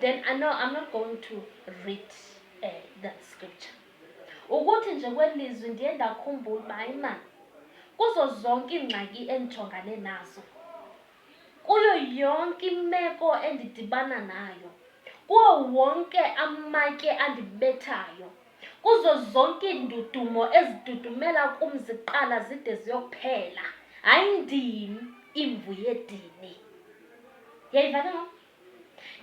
then I know I'm not going to read uh, that scripture ukuthi nje kwelizwi ndiye ndakhumbula uba hayi ma kuzo zonke iingxaki endijongane nazo kuyo yonke imeko endidibana nayo kuwo wonke amatye andibethayo kuzo zonke iindudumo ezidudumela kum ziqala zide ziyokuphela hayi ndim imvu yedini yayivane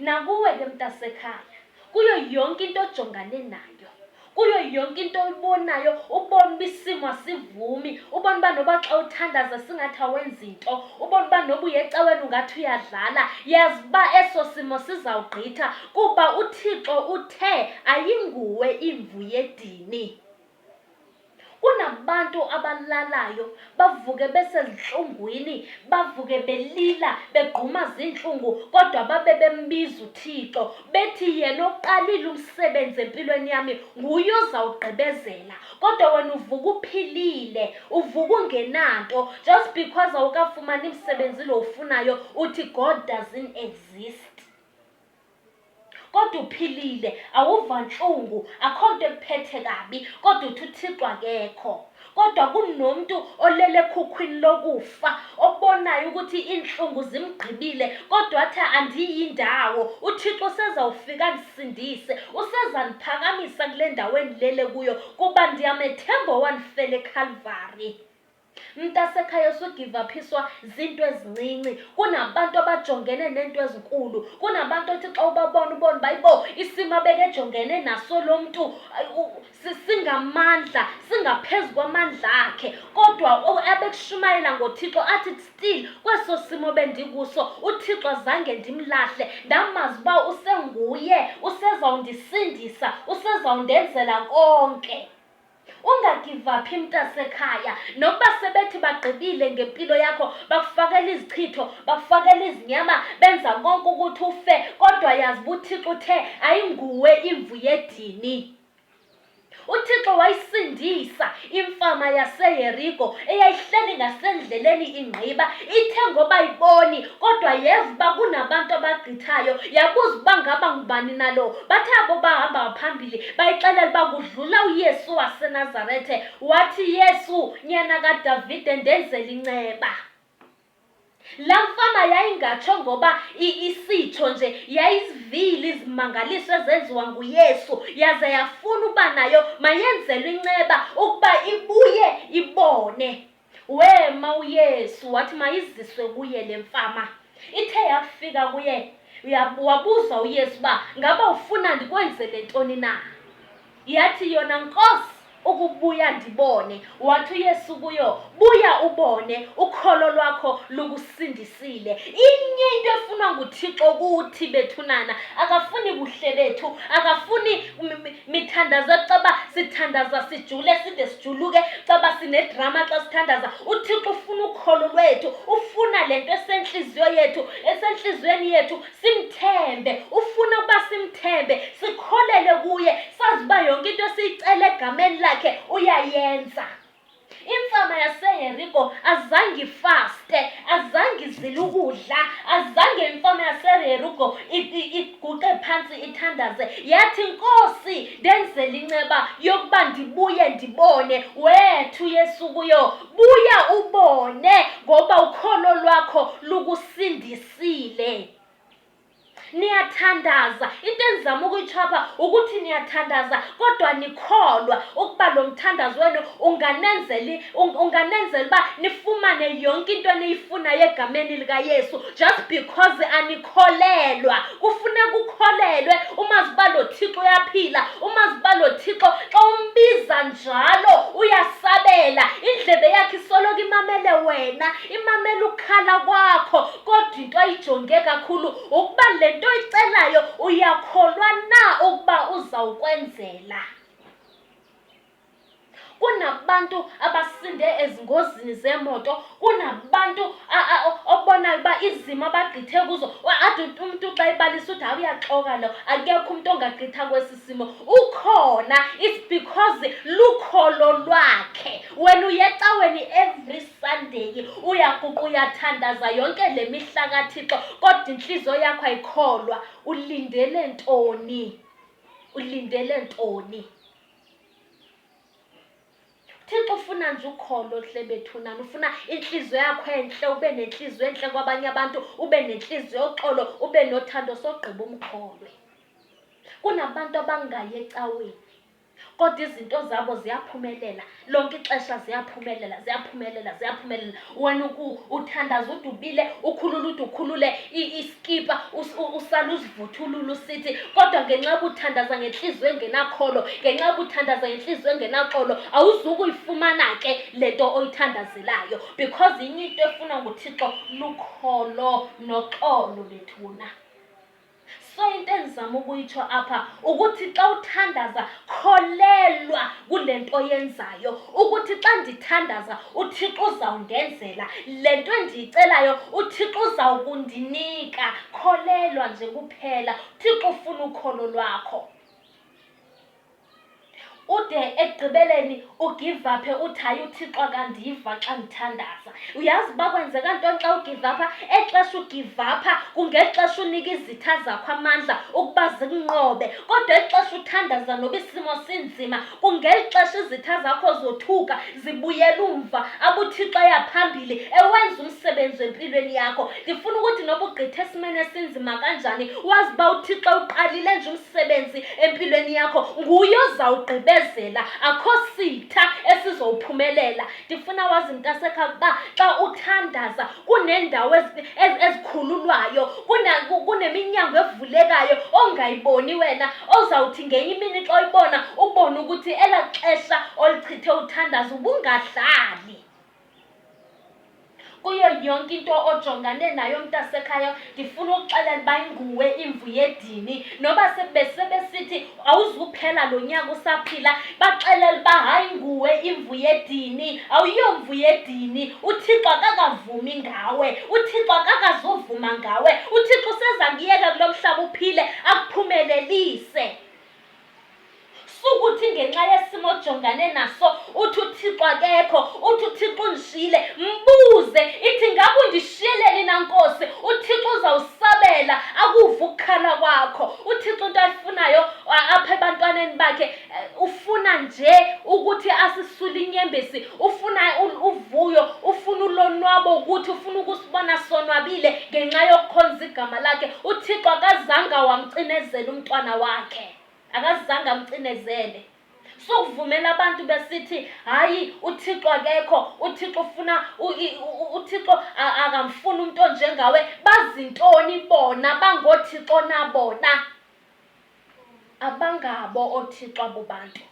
Nakuwe ke mntasekhaya, kuyo yonke into ojongane nayo, kuyo yonke into oyibonayo, ubona uba isimo asivumi, ubona uba noba xa uthandaza singathi awenzi nto, ubona uba noba uye ecaweni ungathi uyadlala, yazi uba eso simo sizawugqitha kuba uThixo uthe ayinguwe imvu yedini. kunabantu abalalayo bavuke besezintlungwini bavuke belila begquma ziintlungu kodwa babe bembiza uthixo bethi yena oqalile umsebenzi empilweni yami nguye ozawugqibezela kodwa wena uvuka uphilile uvuka ungenanto just because awukafumani msebenzi lo ufunayo uthi god doesn't exist kodwa uphilile awuva ntlungu akho nto ekuphethe kabi kodwa uthi uthixo akekho kodwa kunomntu olele ekhukhwini lokufa obonayo ukuthi iintlungu zimgqibile kodwa athi andiyi ndawo uthixo usezawufika ndisindise usezandiphakamisa kule ndawo endilele kuyo kuba ndiyamethemba owandifela ekhalvari mntasekhaya usugivaphiswa zinto ezincinci kunabantu abajongene neento ezinkulu kunabantu othi xa ubabona ubona uba ibo isimo abekejongene naso lo mntu singamandla singaphezu kwamandla akhe kodwa abekushumayela ngothixo athi still kweso simo bendikuso uthixo zange ndimlahle ndamazi uba usenguye usezawundisindisa usezawundenzela konke Ungagivaphi mntasekhaya nokuba sebethi bagqibile ngempilo yakho bakufakela izichitho bakufakela izinyama benza konke ukuthi ufe kodwa yazi uba uthixo uthe ayinguwe imvu yedini uthixo wayisindisa imfama yaseyeriko eyayihleli ngasendleleni ingqiba ithe ngoba iboni kodwa yeva uba kunabantu abagqithayo yabuza uba ngaba ngubani nalo bathe abo bahamba phambili bayixelela uba kudlula uyesu wasenazarethe wathi yesu nyana kadavide ndenzela inceba la mfama yayingatsho ngoba isitsho nje yayizivile izimangaliso ezenziwa nguyesu yaze yafuna uba nayo mayenzelwe inceba ukuba ibuye ibone Wema uYesu wathi mayiziswe kuye le mfama. Ithe yafika kuye uya- wabuza uYesu uba ngaba ufuna ndikwenzele ntoni na? Yathi yona Nkosi ukubuya ndibone. Wathi uYesu kuyo, buya ubone, ukholo lwakho lukusindisile. Inye into efunwa nguThixo kuthi bethunana, akafuni buhle bethu, akafuni mm, mm, mithandazo caba sithandaza sijule side sijuluke caba sinedrama xa sithandaza uthixo ufuna ukholo lwethu ufuna le nto esentliziyo yethu esentliziyweni yethu simthembe ufuna ukuba simthembe sikholele kuye sazi uba yonke into esiyicela egameni lakhe uyayenza Imfama yaseHeriko azange ifaste, azange izile ukudla, azange imfama yaseHeriko iguqe phantsi ithandaze. Yathi, Nkosi, ndenzela inceba yokuba ndibuye ndibone. Wethu Yesu kuyo, buya ubone ngoba ukholo lwakho lukusindisile. niyathandaza into endizama ukuyitshapha ukuthi niyathandaza kodwa nikholwa ukuba lo mthandazo wenu unganenzeli unganenzela uba nifumane yonke into eniyifunayo egameni likayesu just because anikholelwa kufuneka ukholelwe umazi uba lo thixo uyaphila umazi uba lo thixo xa umbiza njalo uyasabela indlebe yakhe isoloko imamele wena imamela ukukhala kwakho kodwa into ayijonge kakhulu ukuba le nto oyicelayo uyakholwa na ukuba uzawukwenzela kunabantu abasinde ezingozini zemoto kunabantu obonayo uba izimo abagqithe kuzo athi umntu xa ibalisa uthi hayi uyaxoka lo akekho umntu ongagqitha kwesi simo ukhona it's because lukholo lwakhe wena uyecaweni every Sunday uyakuqa uyathandaza yonke le mihla kaThixo kodwa intliziyo yakho ayikholwa ulindele ntoni ulindele ntoni Thixo ufuna nje ukholo hle bethunana ufuna inhliziyo yakho enhle ube nenhliziyo enhle kwabanye abantu ube nenhliziyo oxolo ube nothando sogqiba umkholwe kunabantu abangayi ecaweni kodwa izinto zabo ziyaphumelela lonke ixesha ziyaphumelela ziyaphumelela ziyaphumelela wena uthandaza ude ubile ukhulula ude ukhulule iskipa usala uzivuthulula usithi kodwa ngenxa yokuthandaza ngentliziyo engenakholo ngenxa yokuthandaza ngentliziyo engenaxolo awuzukuyifumana ke le nto oyithandazelayo because inye into efuna nguthixo lukholo noxolo bethuna so into endizama ukuyitsho apha ukuthi xa uthandaza kholelwa kule nto yenzayo ukuthi xa ndithandaza uthixo uzawundenzela le nto endiyicelayo uthixo uzawukundinika kholelwa nje kuphela uthixo ufuna ukholo lwakho ude ekugqibeleni ugivaphe uthi hayi uthixo akandiva xa ndithandaza uyazi uba kwenzeka ntoni xa ugivapha exesha ugivapha kungexesha unika izitha zakho amandla ukuba zikunqobe kodwa exesha uthandaza noba isimo sinzima kungeli xesha izitha zakho zothuka zibuyela umva abuthixo ayaphambili ewenza umsebenzi wempilweni yakho ndifuna ukuthi noba ugqithe esimeni esinzima kanjani wazi uba uthixo uqalile nje umsebenzi empilweni yakho nguye ozawugqibezela akho sitha esizowuphumelela ndifuna wazi mntasekha ukuba xa uthandaza kuneendawo ezikhululwayo kuneminyango evulekayo ongayiboni wena ozawuthi ngenye imini xa uyibona ubone ukuthi elaa xesha olichithe uthandaza ubungadlali kuyo yonke into ojongane nayo mntasekhaya ndifuna ukuxelela uba inguwe imvu yedini noba sebesithi awuzuphela lo nyaka usaphila baxelela uba hayi nguwe imvu yedini awuyomvu yedini uthixo akakavumi ngawe uthixo akakazuvuma ngawe uthixo useza kuyeka kulo mhlaba uphile akuphumelelise sukuthi ngenxa yesimo ojongane naso uthi uthixo akekho uthi uthixo undishiyile mbuze ithi ngaba undishiyeleni na nkosi uthixo uzawusabela akuva ukukhala kwakho uthixo into ayifunayo apha ebantwaneni bakhe eh, ufuna nje ukuthi asisule inyembezi ufuna uvuyo ufuna ulonwabo ukuthi ufuna ukusibona sonwabile ngenxa yokukhonza igama lakhe uthixo akazange wamcinezela umntwana wakhe akazange amcinezele sukuvumela abantu besithi hayi uthixo akekho uthixo ufuna uthixo akamfuni umntu onjengawe bazintoni bona bangoothixo nabona abangabo oothixo abo bantu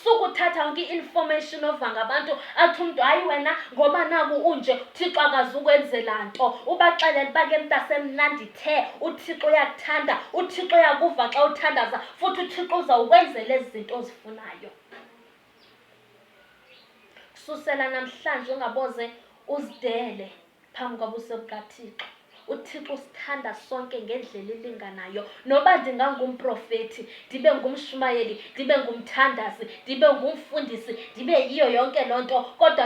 sukuthatha yonke i-information ova ngabantu athi umntu hayi wena ngoba naku unje uthixo akazukwenzela nto ubaxelela uba ke mntasemnandi the uthixo uyakuthanda uthixo uyakuva xa uthandaza futhi uthixo uzawukwenzela ezi zinto ozifunayo kususela namhlanje ungaboze uzidele phambi kwabuso bukaThixo. UThixo usithanda sonke ngendlela elinganayo. Noba ndingangumprofeti, ndibe ngumshumayeli, ndibe ngumthandazi, ndibe ngumfundisi, ndibe yiyo yonke loo nto kodwa